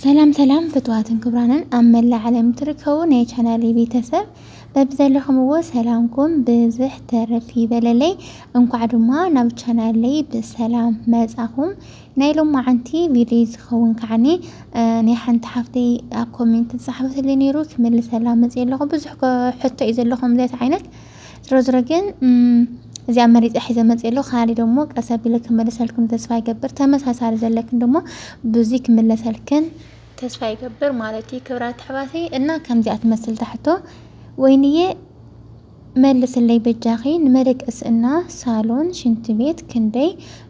ሰላም ሰላም ፍትዋትን ክብራንን ኣብ መላእ ዓለም ትርከቡ ናይ ቻናለይ ቤተሰብ በብዘለኹምዎ ሰላምኩም ብዝሕ ተረፍ ይበለለይ። እንኳዕ ድማ ናብ ቻናለይ ብሰላም መጻኹም። ናይ ሎማዓንቲ ቪድዮ ዝኸውን ከዓኒ ናይ ሓንቲ ሓፍተይ ኣብ ኮሜንት ዝጸሓፈትለይ ነይሩ ክምልሰላ መጽየ ኣለኹ። ብዙሕ ሕቶ እዩ ዘለኹም ዘት ዓይነት ዝሮ ዝሮ ግን እዚኣ መሪፀ ሒዘ መፅእ ኣሎ ካሊ ደሞ ቀስ ኣቢለ ክመለሰልክን ተስፋ ይገብር ተመሳሳሪ ዘለክን ደሞ ብዙ ክምለሰልክን ተስፋ ይገብር ማለት እዩ ክብራት ኣሕዋተይ እና ከምዚኣ ትመስል ታሕቶ ወይንዬ መልስለይ በጃኺ ንመደቀሲ እና ሳሎን ሽንቲ ቤት ክንደይ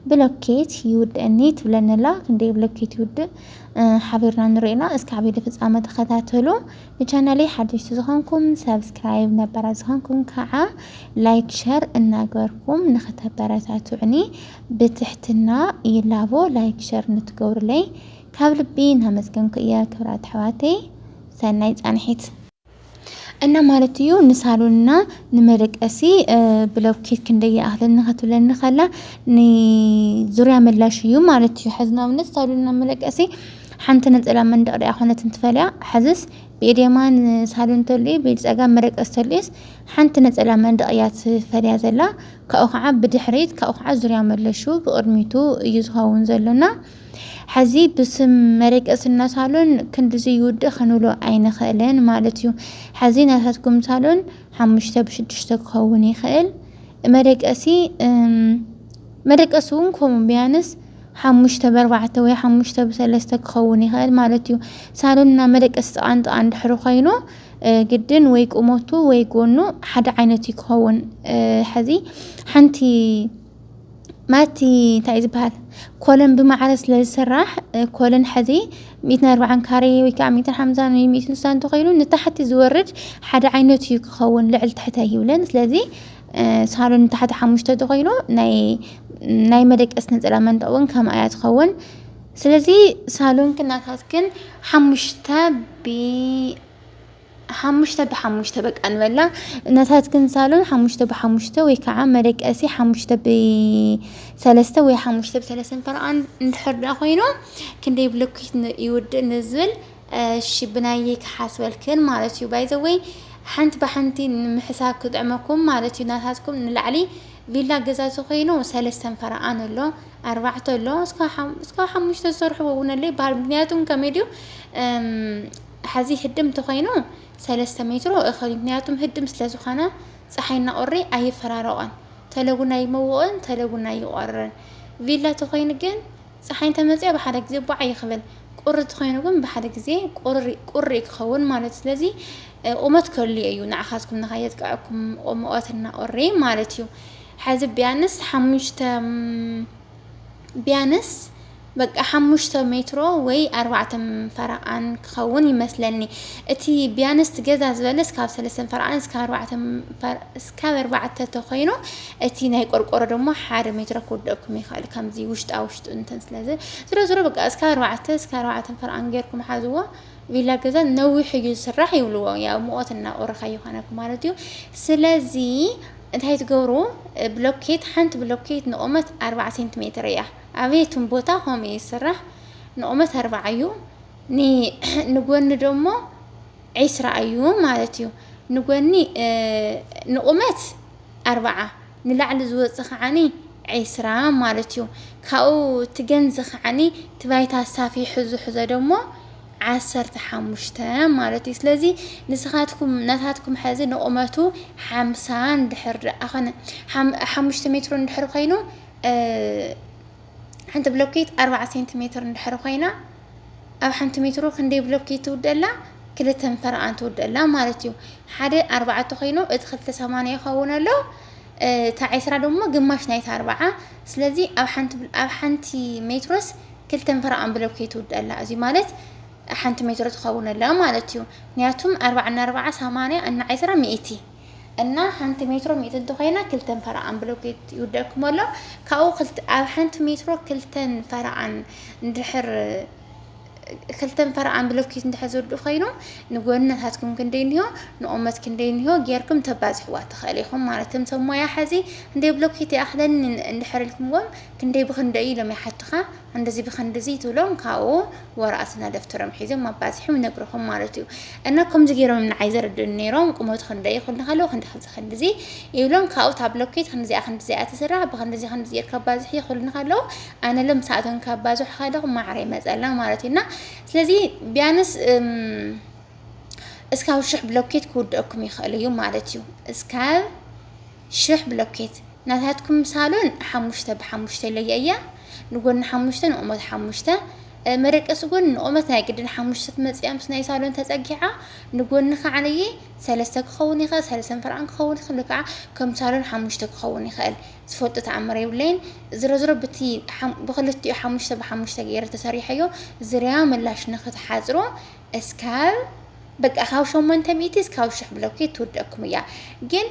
ብሎኬት ይውድእኒ ትብለንላ ክንደይ ብሎኬት ይውድእ ሓቢርና ንሪእና እስካዕ ቤተ ፍፃመ ተኸታተሉ ንቻናለይ ሓደሽቲ ዝኾንኩም ሳብስክራይብ ነባራት ዝኾንኩም ካዓ ላይክ ሸር እናግበርኩም ንክተበረታቱዕኒ ብትሕትና ይላቦ ላይክ ሸር ንትገብሩለይ ካብ ልቢ እናመስገንኩ እየ ክብራት ኣሕዋተይ ሰናይ ፃንሒት እና ማለት እዩ ንሳሎንና ንመደቀሲ ብሎኬት ክንደይ ይኣክል ንክትብለኒ ከላ ንዙርያ ምላሽ እዩ ማለት እዩ ሕዚ ንኣብነት ሳሎንና መደቀሲ ሓንቲ ነጸላ መንደቕ ድኣ ኮነት እንትፈልያ፣ ሕዝስ ብኢድ የማን ሳሎን ተልኡ ብኢድ ጸጋም መደቀሲ ተልኡስ ሓንቲ ነጸላ መንደቕ እያ ትፈልያ ዘላ፣ ካብኡ ከኣ ብድሕሪት ካብኡ ከኣ ዙርያ መለሹ ብቕድሚቱ እዩ ዝኸውን ዘሎ እና ሕዚ ብስም መደቀስና ሳሎን ክንድዚ ይውድእ ክንብሎ ኣይንኽእልን ማለት እዩ። ሕዚ ናታትኩም ሳሎን ሓሙሽተ ብሽዱሽተ ክኸውን ይኽእል መደቀሲ መደቀሲ እውን ከምኡ ቢያንስ ሓሙሽተ በርባዕተ ወይ ሓሙሽተ ብሰለስተ ክኸውን ይኸእል ማለት እዩ። ሳሎን እና መደቀሲ ጥቓ ንጥቓ እንድሕሪ ኮይኑ ግድን ወይ ቁመቱ ወይ ጎኑ ሓደ ዓይነት እዩ ክኸውን ሕዚ ሓንቲ ማቲ እንታይ ዝበሃል ኮለን ብማዕረ ስለ ዝስራሕ ኮለን ሕዚ ሚእትን ኣርባዓን ካሬ ወይ ከዓ ሚእትን ሓምሳን ወይ ሚእትን ስሳን ተኸይኑ ንታሕቲ ዝወርድ ሓደ ዓይነት እዩ ክኸውን ልዕል ትሕተ ኣይብለን ስለዚ ሳሎን ብታሕቲ ሓሙሽተ ተኮይኑ ናይ ናይ መደቀስ ነፀላ መንጠቅ እውን ከምኣ እያ ትኸውን ስለዚ ሳሎንክን ናታትክን ሓሙሽተ ብ ሓሙሽተ ብሓሙሽተ በቃ ንበላ ናታትክን ሳሎን ሓሙሽተ ብሓሙሽተ ወይ ከዓ መደቀሲ ሓሙሽተ ብሰለስተ ወይ ሓሙሽተ ብሰለስተ ፈረቃ እንድሕር ዳ ኮይኑ ክንደይ ብሎኬት ይውድእ ንዝብል እሺ ብናየይ ክሓስበልክን ማለት እዩ ባይ ዘ ወይ ሓንቲ ብሓንቲ ንምሕሳብ ክጥዕመኩም ማለት እዩ ናታትኩም ንላዕሊ ቪላ ገዛ ዝኾይኑ ሰለስተን ፈረቓን ኣሎ ኣርባዕተ ኣሎ እስካብ ሓሙሽተ ዝሰርሕዎ እውን ኣሎ ይበሃል ምክንያቱም ከመይ ድዩ ሓዚ ህድም ተኾይኑ ሰለስተ ሜትሮ እኸል ምክንያቱም ህድም ስለ ዝኾነ ፀሓይና ቁሪ ኣይፈራረቆን ተለጉና ይመውቕን ተለጉና ይቆርን ቪላ ተኾይኑ ግን ጸሓይ እንተ መጽያ ብሓደ ግዜ ቧዕ እዩ ክብል ቁሪ ተኮይኑ ግን ብሓደ ግዜ ቁሪ ቁሪ እዩ ክከውን ማለት ስለዚ ቁመት ከልዮ እዩ ንዓካትኩም ንካ የጥቅዐኩም ቁምኦት እና ቁሪ ማለት እዩ ሐዚ ቢያንስ ሓሙሽተ ቢያንስ በቃ ሓሙሽተ ሜትሮ ወይ ኣርባዕተ ፈረቓን ክኸውን ይመስለኒ እቲ ቢያንስት ገዛ ዝበለስ ካብ ሰለስተን ፈረቓን እስካብ ኣርባዕተ እስካብ ኣርባዕተ ተኾይኑ እቲ ናይ ቆርቆሮ ደሞ ሓደ ሜትሮ ክውደኩም ይኽእል ከምዚ ውሽጣ ውሽጡ እንተን ስለዚ ዝሮ ዝሮ በቃ እስከ ኣርባዕተ እስከ ኣርባዕተ ፈርኣን ጌርኩም ሓዝዎ ቪላ ገዛ ነዊሕ እዩ ዝስራሕ ይብልዎ ያው ሙቐት እናቆረኻ ይኾነኩም ማለት እዩ ስለዚ እንታይ ትገብሩ ብሎኬት ሓንቲ ብሎኬት ንቑመት ኣርባዓ ሴንቲሜትር እያ ኣበየቱም ቦታ ከምኡ እዩ ዝስራሕ ንቑመት ኣርባዓ እዩ ንጎኒ ደሞ ዒስራ እዩ ማለት እዩ ንጎኒ ንቑመት ኣርባዓ ንላዕሊ ዝወጽእ ከዓኒ ዒስራ ማለት እዩ ካብኡ ትገንዚ ከዓኒ ትባይታ ኣሳፊሑ ዝሕዞ ደሞ ዓሰርተ ሓሙሽተ ማለት እዩ ስለዚ ንስኻትኩም ናታትኩም ሕዚ ንቑመቱ ሓምሳ እንድሕር ደኣ ኾነ ሓሙሽተ ሜትሮ እንድሕር ኮይኑ ሓንቲ ብሎኬት ኣርባዓ ሴንቲሜትር እንድሕር ኮይና ኣብ ሓንቲ ሜትሮ ክንደይ ብሎኬት ትውድእ ኣላ? ክልተን ፈረቓን ትውድእ ኣላ ማለት እዩ። ሓደ ኣርባዕተ ኮይኑ እቲ ክልተ ሰማንያ ይኸውን ኣሎ እቲ ዕስራ ደሞ ግማሽ ናይቲ ኣርባዓ ስለዚ ኣብ ሓንቲ ኣብ ሓንቲ ሜትሮስ ክልተን ፈረቓን ብሎኬት ትውድእ ኣላ እዚ ማለት ሓንቲ ሜትሮ ትኸውን ኣላ ማለት እዩ። ምክንያቱም ኣርባዓ እና ኣርባዓ ሰማንያ እና ዕስራ ሚእቲ እና ሓንቲ ሜትሮ ሚእቲ እንተኾይና ክልተን ፈረቓን ብሎኬት ይውደእኩም ኣሎ ካብኡ ክልተ ኣብ ሓንቲ ሜትሮ ክልተን ፈረቓን እንድሕር ክልተን ፈረቓን ብሎኬት እንድሕር ዝውድእ ኮይኑ ንጎንነታትኩም ክንደይ እንሆ ንቑመት ክንደይ እንሆ ጌርኩም ተባዝሕዋ ትኽእል ኢኹም ማለት እቶም ሰብ ሞያ ሕዚ ክንደይ ብሎኬት ይኣኽለኒ እንድሕር ኢልኩምዎም ክንደይ ብክንደይ ኢሎም ይሓቱኻ እንደዚ ብክንድዚ ትብሎም ካብኡ ወረቀትና ደፍተሮም ሒዞም መባዝሒ ይነግርኹም ማለት እዩ እና ከምዚ ገይሮም ንዓይ ዘረድኡኒ ነይሮም ቁመቱ ክንደይ ክብሉ ከለዉ ክንዲ ክንዚ ክንድዚ ይብሎም ካብኡ እታ ብሎኬት ክንዲዚኣ ክንዲዚኣ ትስራሕ ብክንዲዚ ክንዲዚ ጌርካ ባዝሒ ይክብሉኒ ከለዉ ኣነ ሎም ሰዓቶም ከባዝሑ ከለኹ ማዕረ ይመፀልና ማለት እዩ እና ስለዚ ቢያንስ እስካብ ሽሕ ብሎኬት ክውደአኩም ይኽእል እዩ ማለት እዩ እስካብ ሽሕ ብሎኬት ናታትኩም ሳሎን ሓሙሽተ ብሓሙሽተ ለያ እያ ንጎኒ ሓሙሽተ ንቁመት ሓሙሽተ መደቀሲ ጎኒ ንቁመት ናይ ግድን ሓሙሽተ ትመፅያ ምስ ናይ ሳሎን ተፀጊዓ ንጎኒ ከዓነየ ሰለስተ ክኸውን ይኽእል ሰለስተ ምፈርዓን ክኸውን ይኽእል ወይ ከዓ ከም ሳሎን ሓሙሽተ ክኸውን ይኽእል ዝፈልጦ ተኣምር የብለይን ዝሮ ዝሮ ብቲ ብክልቲኡ ሓሙሽተ ብሓሙሽተ ገይረ ተሰሪሐዮ ዝርያ ምላሽ ንክትሓፅሮ እስካብ በቃ ካብ ሸሞንተ ሚእቲ እስካብ ሽሕ ብሎኬት ትውደኩም እያ ግን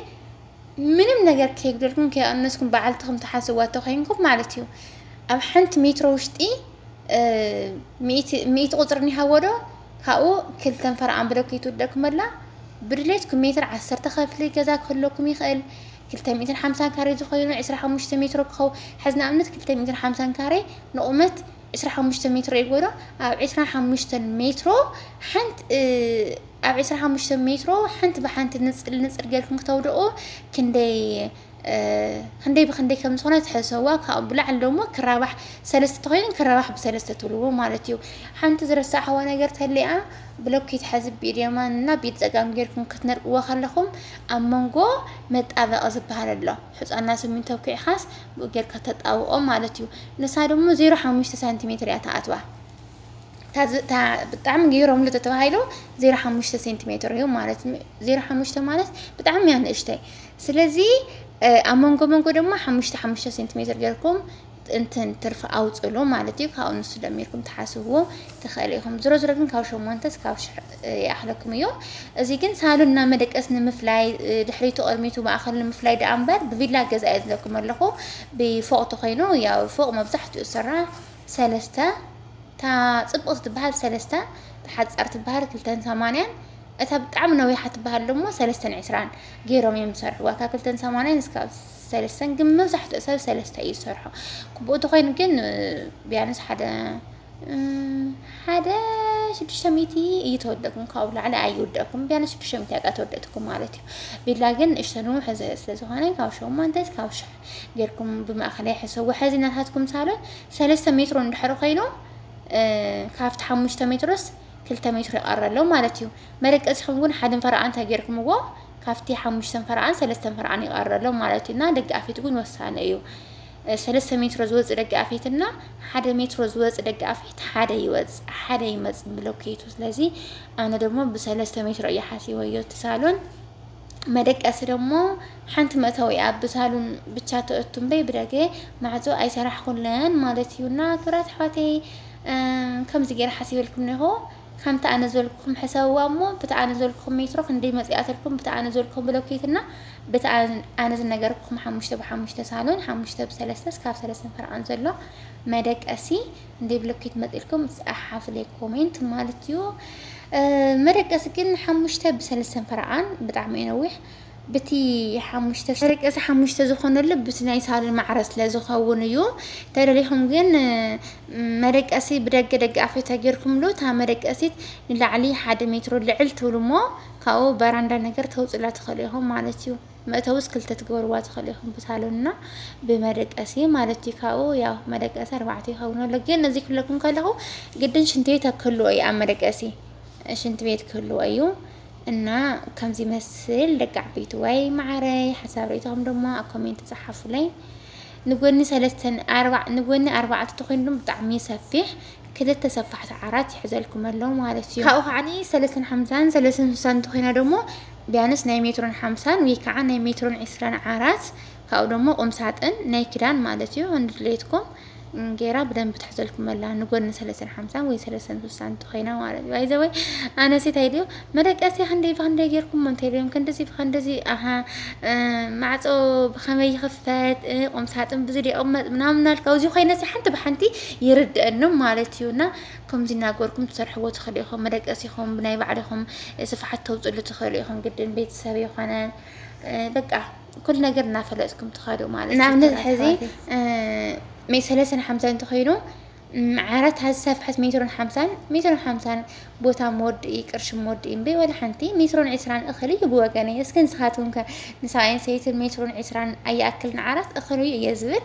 ምንም ነገር ከይጉደልኩም ከይቀነስኩም በዓልትኹም ትሓስዋ ተኮይንኩም ማለት እዩ ኣብ ሓንቲ ሜትሮ ውሽጢ ሚእቲ ቁፅሪ ኒሃዎ ዶ ካብኡ ክልተ ንፈርኣን ብሎኬት ትውደኩም ኣላ ብድሌትኩም ሜትር ዓሰርተ ከፍሊ ገዛ ክህለኩም ይኽእል ክልተ ሚእትን ሓምሳን ካሬ ዝኾይኑ ዕስራ ሓሙሽተ ሜትሮ ክኸው ሕዚ ንኣብነት ክልተ ሚእትን ሓምሳን ካሬ ንቑመት ዕስራ ሓሙሽተ ሜትሮ ይግበሮ ኣብ ዕስራ ሓሙሽተ ሜትሮ ሓንቲ ኣብ ዕስራ ሓሙሽተ ሜትሮ ሓንቲ ብሓንቲ ንፅል ንፅል ጌርኩም ክተውደቑ ክንደይ ክንደይ ብክንደይ ከም ዝኾነ ትሕሰዋ ካብኡ ብላዕሊ ደሞ ክራባሕ ሰለስተ ተኮይኑ ክራባሕ ብሰለስተ ትብልዎ ማለት እዩ ሓንቲ ዝረሳዕዋ ነገር ተሊኣ ብሎኬት ሓዚ ብኢድ የማን እና ብኢድ ፀጋም ጌርኩም ክትነድቅዎ ከለኹም ኣብ መንጎ መጣበቂ ዝበሃል ኣሎ ሕፃና ስሚንቶ ኩዕኻስ ጌርካ ተጣብቆ ማለት እዩ ንሳ ደሞ ዜሮ ሓሙሽተ ሳንቲሜትር እያ ተኣትዋ እታ ብጣዕሚ ገይሮምሉ ተተባሂሉ ዜሮ ሓሙሽተ ሴንቲሜትር እዩ ማለት ዜሮ ሓሙሽተ ማለት ብጣዕሚ እያ ንእሽተይ ስለዚ ኣብ መንጎ መንጎ ድማ ሓሙሽተ ሓሙሽተ ሴንቲሜትር ጌርኩም እንትን ትርፊ ኣውፅሉ ማለት እዩ ካብኡ ንሱ ደሚርኩም ትሓስብዎ ትኽእል ኢኹም ዝሮ ዝሮ ግን ካብ ሸሞንተ እስካብ ይኣኽለኩም እዮ እዚ ግን ሳሎን እና መደቀስ ንምፍላይ ድሕሪቱ ቅድሚቱ ማእኸል ንምፍላይ ደኣ እምበር ብቪላ ገዛ እየ ዝለኩም ኣለኹ ብፎቅ ተኮይኑ ያው ፎቅ መብዛሕትኡ ዝስራ ሰለስተ እታ ፅብቅ ትበሃል ሰለስተ እታ ሓፃር ትበሃል ክልተን ሰማንያን እታ ብጣዕሚ ነዊሓ ትበሃል ደሞ ሰለስተን ዕስራን ገይሮም እዮም ዝሰርሕዋ ካብ ክልተን ሰማንያን እስካብ ሰለስተን ግን መብዛሕትኡ ሰብ ሰለስተ እዩ ዝሰርሖ ክቡኡ ተኮይኑ ግን ቢያንስ ሓደ ሓደ ሽዱሽተ ሚእቲ እዩ ተወደእኩም ካብኡ ላዕሊ ኣይውደእኩም ቢያንስ ሽዱሽተ ሚእቲ ኣቃ ተወደእትኩም ማለት እዩ ቢላ ግን ንእሽቶ ንውሕ ዝህእ ስለ ዝኾነ ካብ ሸሞንተ ካብ ሽሕ ጌርኩም ብማእኸላይ ሕሰቡ ሕዚ ናታትኩም ሳሎን ሰለስተ ሜትሮ እንድሕር ኮይኑ ካብቲ ሓሙሽተ ሜትሮስ ክልተ ሜትሮ ይቐረ ኣሎ ማለት እዩ መደቀሲኹም ግን ሓደን ፈረቓ እንታይ ጌርኩምዎ ካብቲ ሓሙሽተን ፈረቓን ሰለስተን ፈረቓን ይቐረ ኣሎ ማለት እዩና ደጋፊት እውን ወሳኒ እዩ ሰለስተ ሜትሮ ዝወጽእ ደገ ኣፌት እና ሓደ ሜትሮ ዝወጽእ ደገ ኣፌት ሓደ ይወጽእ ሓደ ይመጽእ ብሎኬቱ ስለዚ ኣነ ደግሞ ብሰለስተ ሜትሮ እየ ሓሲበዮ እቲ ሳሎን መደቀሲ ደሞ ሓንቲ መእተዊ እያ ብሳሉን ብቻ ተእቱ እምበይ ብደገ ማዕፆ ኣይሰራሕኩለን ማለት እዩና ክብራት ኣሕዋተይ ከምዚ ገይረ ሓሲበልኩም ነሆ ከምቲ ኣነ ዝበልኩኹም ሕሰብዋ እሞ፣ ብቲ ኣነ ዝበልኩኹም ሜትሮ ክንደይ መጺኣትልኩም፣ ብቲ ኣነ ዝበልኩኹም ብሎኬት እና ብቲ ኣነ ዝነገርኩኹም ሓሙሽተ ብሓሙሽተ ሳሎን፣ ሓሙሽተ ብሰለስተ እስካብ ሰለስተን ፈርዖን ዘሎ መደቀሲ ክንደይ ብሎኬት መጺእልኩም ጸሓፉለይ ኮሜንት ማለት እዩ። መደቀሲ ግን ሓሙሽተ ብሰለስተን ፈርዖን ብጣዕሚ እዩ ነዊሕ። ብቲ ሓሙሽተ ፍርቂ እዚ ሓሙሽተ ዝኾነሉ ብቲ ናይ ሳሎን ማዕረ ስለ ዝኸውን እዩ ተደሊኹም ግን መደቀሲ ብደገ ደገ ኣፍ ተጌርኩምሉ እታ መደቀሲት ንላዕሊ ሓደ ሜትሮ ልዕል ትብሉ እሞ ካብኡ በራንዳ ነገር ተውፅላ ትኽእሉ ኢኹም ማለት እዩ መእተውስ ክልተ ትገብርዋ ትኽእሉ ኢኹም ብሳሎንና ብመደቀሲ ማለት እዩ ካብኡ ያው መደቀሲ ኣርባዕተ ይኸውን ኣሎ ግን እዚ ክለኩም ከለኹ ግድን ሽንቲ ቤት ክህልዎ እዩ ኣብ መደቀሲ ሽንቲ ቤት ክህልዎ እዩ እና ከምዚ ይመስል ደቂ ዓበይትዋይ መዓረይ ሓሳብ ርእይቶኹም ደሞ ኣብ ኮሜንት ጸሓፉለይ ንጎኒ ሰለስተን ኣርባዕ ንጎኒ ኣርባዕተ ተኮይኑ ብጣዕሚ ሰፊሕ ክልተ ሰፋሕቲ ዓራት ይሕዘልኩም ኣሎ ማለት እዩ ካብኡ ከዓኒ ሰለስተን ሓምሳን ሰለስተን ስሳን ተኮይና ደሞ ቢያንስ ናይ ሜትሮን ሓምሳን ወይ ከዓ ናይ ሜትሮን ዕስራን ዓራት ካብኡ ደሞ ቁምሳጥን ናይ ክዳን ማለት እዩ እንድሌትኩም ጌራ ብደንብ ትሕዘልኩም ኣላ ንጎኒ ሰለስተን ሓምሳን ወይ ሰለስተን ስሳን እንተኮይና ማለት እዩ ባይዘወይ ኣነሲ እንታይ ድዮ መደቀሲ ክንደይ ብክንደይ ጌርኩም እንታይ ድዮም ክንድዚ ብክንድዚ ኣሃ ማዕፆ ብከመይ ይኽፈት ቁምሳጥን ብዙ ድያ ቁመጥ ምናምን ናልካ እዚ ኮይነሲ ሓንቲ ብሓንቲ ይርድአንም ማለት እዩ እና ከምዚ እናገርኩም ትሰርሕዎ ትኽእሉ ኢኹም መደቀሲ ኢኹም ብናይ ባዕልኹም ስፍሓት ተውፅሉ ትኽእሉ ኢኹም ግድን ቤተሰብ የኾነ በቃ ኩሉ ነገር እናፈለጥኩም ትኸዱ ማለት እዩ ንኣብነት ሕዚ ሜ ሰለስተን ሓምሳን እንተኮይኑ ዓራት ዝሰፍሐት ሜትሮን ሓምሳን ሜትሮን ሓምሳን ቦታ መወድኢ ቅርሺ መወድኢ እምበይ ወላ ሓንቲ ሜትሮን ዕስራን እኽል እዩ ብወገነይ እስከ ንስኻትኩም ከ ንሰብኣይን ሰበይትን ሜትሮን ዕስራን ኣይኣክልን ዓራት እኽል እዩ እየ ዝብል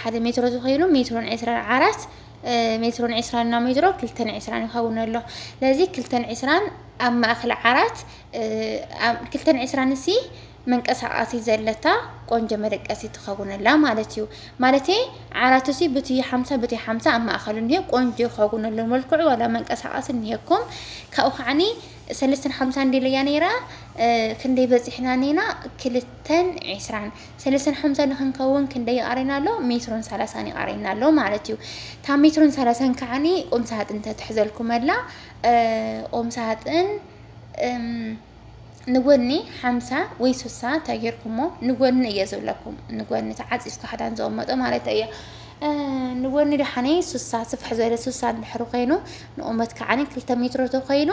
ሓደ ሜትሮ ዝኸይሉ ሜትሮን ዕስራን ዓራት ሜትሮን ዕስራን እና ሜትሮ ክልተን ዕስራን ይኸውን ኣሎ ለዚ ክልተን ዕስራን ኣብ ማእኸል ዓራት ክልተን ዕስራን እሲ መንቀሳቃሲ ዘለታ ቆንጆ መደቀሲ ትኸውነላ ማለት እዩ ማለት ዓራቱ ሲ ብቲ ሓምሳ ብቲ ሓምሳ ኣብ ማእኸሉ እኒሀ ቆንጆ ይኸውነሉ መልክዑ ዋላ መንቀሳቃሲ እኒሀኩም ካብኡ ከዓኒ ሰለስተን ሓምሳ እንዲለያ ነይራ ክንደይ በፂሕና ነይና ክልተን ዕስራን ሰለስተን ሓምሳን ንኽንከውን ክንደይ ይቐረና ኣሎ? ሜትሮን ሰላሳን ይቐረና ኣሎ ማለት እዩ። እታ ሜትሮን ሰላሳን ከዓኒ ቁም ሳጥን ተትሕዘልኩም ኣላ። ቁም ሳጥን ንጎኒ ሓምሳ ወይ ስሳ ተጌርኩሞ ንጎኒ እየ ዝብለኩም ንጎኒ ተዓፂፍካ ክዳን ዘቐመጦ ማለት እየ ንጎኒ ደሓነ ስሳ ስፍሕ ዝበለ ስሳ እንድሕሪ ኮይኑ ንቑመት ከዓኒ ክልተ ሜትሮ ተኮይኑ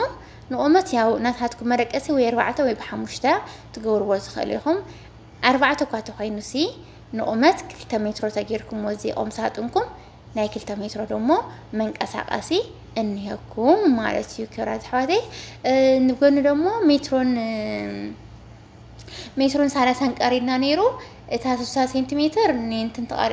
ንቑመት ያው ናታትኩም መደቀሲ ወይ ኣርባዕተ ወይ ብሓሙሽተ ትገብርዎ ትኽእሉ ኢኹም ኣርባዕተ እኳ ተኮይኑሲ ንቁመት ክልተ ሜትሮ ተጌርኩሞ እዚ ቁምሳጥንኩም ናይ ክልተ ሜትሮ ደሞ መንቀሳቀሲ እንሄኩም ማለት እዩ ክብራት ኣሕዋተይ ንጎኒ ደሞ ሜትሮን ሜትሮን ሳላሳን ቀሪድና ነይሩ እታ ስሳ ሴንቲሜትር ንንትን ተቐሪ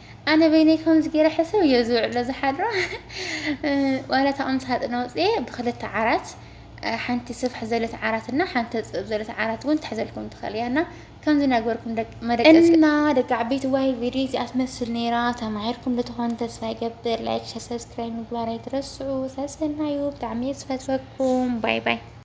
ኣነ በይነይ ከምዚ ገይረ ሕስብ እየ ዝውዕሎ ዝሓድሮ ዋላ እታ ቁም ሳጥን ኣውፅኤ ብክልተ ዓራት ሓንቲ ስፍሕ ዘለት ዓራት እና ሓንቲ ተፅብብ ዘለት ዓራት እውን ትሕዘልኩም ትኽእል እያ እና ከምዚ እናግበርኩም መደቀስ እና ደቂ ዓበይቲ ዋይ ቪድዮ እዚኣ ትመስል ነይራ ተማሂርኩም ልትኾኑ ተስፋ ይገብር ላይክ ሸር ሰብስክራይብ ምግባር ኣይትረስዑ ሰሰናዩ ብጣዕሚ እየ ዝፈትወኩም ባይ ባይ